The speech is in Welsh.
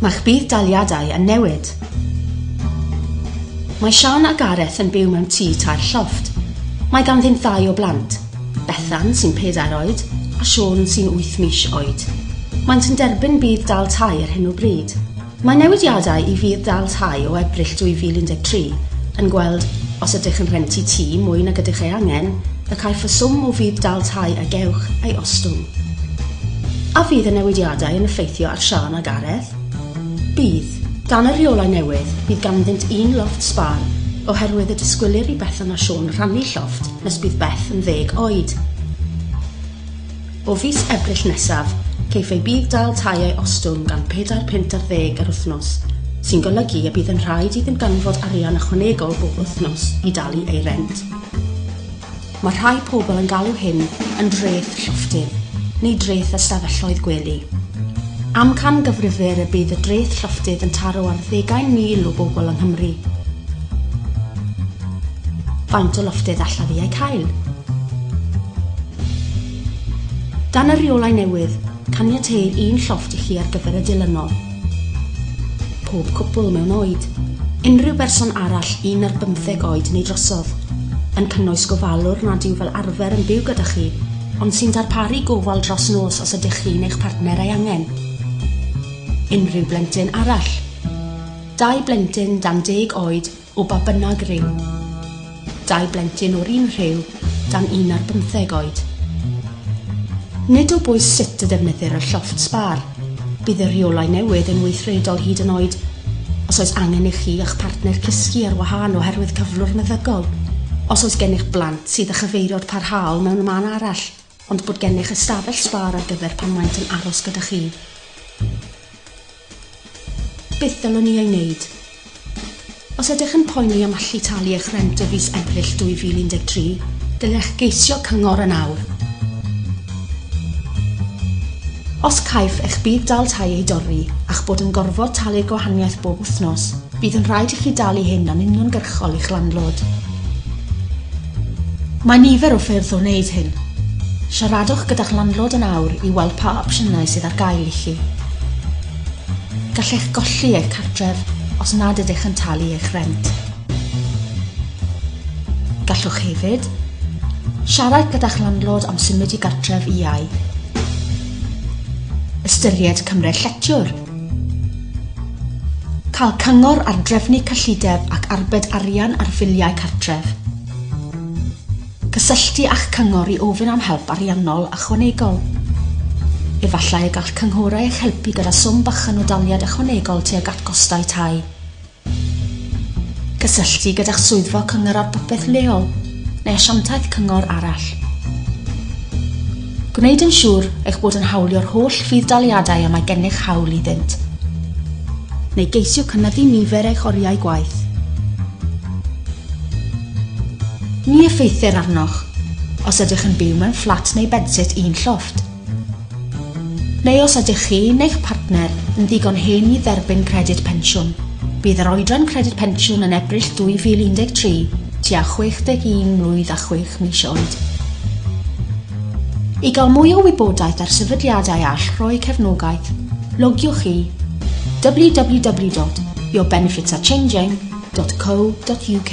Mae'ch budd-daliadau yn newid. Mae Siân a Gareth yn byw mewn tŷ tair llofft. Mae ganddynt ddau o blant, Bethan sy'n pedair oed a Siôn sy'n wyth mis oed. Maent yn derbyn budd-dal tai ar hyn o bryd. Mae newidiadau i fudd-dal tai o Ebrill 2013 yn gweld os ydych yn rhentu tŷ mwy nag ydych ei angen, y caiff y swm o fudd-dal tai a gewch ei ostwng. A fydd y newidiadau yn effeithio ar Siân a Gareth? Bydd. Dan y rheolau newydd, bydd ganddynt un lofft sbâr, oherwydd y disgwylir i Bethan a Siôn rhannu llofft nes bydd Beth yn ddeg oed. O fis Ebrill nesaf, ceiff ei budd-dal tai ei ostwng gan pedair punt ar ddeg yr wythnos, sy'n golygu y bydd yn rhaid iddynt ganfod arian ychwanegol bob wythnos i dalu ei rent. Mae rhai pobl yn galw hyn yn dreth llofftydd, neu dreth ystafelloedd gwely. Amcangyfrifir y bydd y dreth llofftydd yn taro ar ddeugain mil o bobl yng Nghymru. Faint o lofftydd allaf i eu cael? Dan y rheolau newydd, caniateir un llofft i chi ar gyfer y dilynol. Pob cwpl mewn oed, unrhyw berson arall un ar bymtheg oed neu drosodd, yn cynnwys gofalwr nad yw fel arfer yn byw gyda chi, ond sy'n darparu gofal dros nos os ydych chi neu'ch partner ei angen. Unrhyw blentyn arall. Dau blentyn dan deg oed O ba bynnag rhyw. Dau blentyn o'r un rhyw dan un ar bymtheg oed. Nid o bwys sut y ddefnyddir y llofft sbar, bydd y rheolau newydd yn weithredol hyd yn oed os oes angen i chi a'ch partner cysgu ar wahân oherwydd cyflwr meddygol. Os oes gennych blant sydd â chyfeiriod parhaol mewn man arall, ond bod gennych ystafell sbâr ar gyfer pan maent yn aros gyda chi. Beth ddylwn ni ei wneud? Os ydych yn poeni am allu talu eich rent y fis Ebrill 2013, dylech geisio cyngor yn awr. Os caiff eich bydd dal tai ei dorri a'ch bod yn gorfod talu'r gwahaniaeth bob wythnos, bydd yn rhaid i chi dalu hyn yn uniongyrchol i'ch landlord. Mae nifer o ffyrdd o wneud hyn. Siaradwch gyda'ch landlord yn awr i weld pa opsiynau sydd ar gael i chi. Gallech golli eich cartref os nad ydych yn talu eich rhent. Gallwch hefyd siarad gyda'ch landlord am symud i gartref iau. Ystyried cymryd lletiwr. Cael cyngor ar drefnu cyllideb ac arbed arian ar filiau cartref. Cysylltu â'ch cyngor i ofyn am help ariannol ychwanegol. Efallai y gall cynghorau eich helpu gyda swm bychan o daliad ychwanegol tuag at gostau tai. Cysylltu gyda'ch swyddfa Cyngor ar Bopeth leol neu asiantaeth cyngor arall. Gwneud yn siŵr eich bod yn hawlio'r holl fudd-daliadau y mae gennych hawl iddynt. Neu geisio cynyddu nifer eich oriau gwaith. Ni effeithir arnoch os ydych yn byw mewn fflat neu bedsit un llofft. Neu os ydych chi neu'ch partner yn ddigon hen i dderbyn Credyd Pensiwn. Bydd yr oedran Credyd Pensiwn yn Ebrill 2013, tua 61 mlwydd a chwech mis oed. I gael mwy o wybodaeth ar sefydliadau all rhoi cefnogaeth, logiwch i www.yourbenefitsarechanging.co.uk.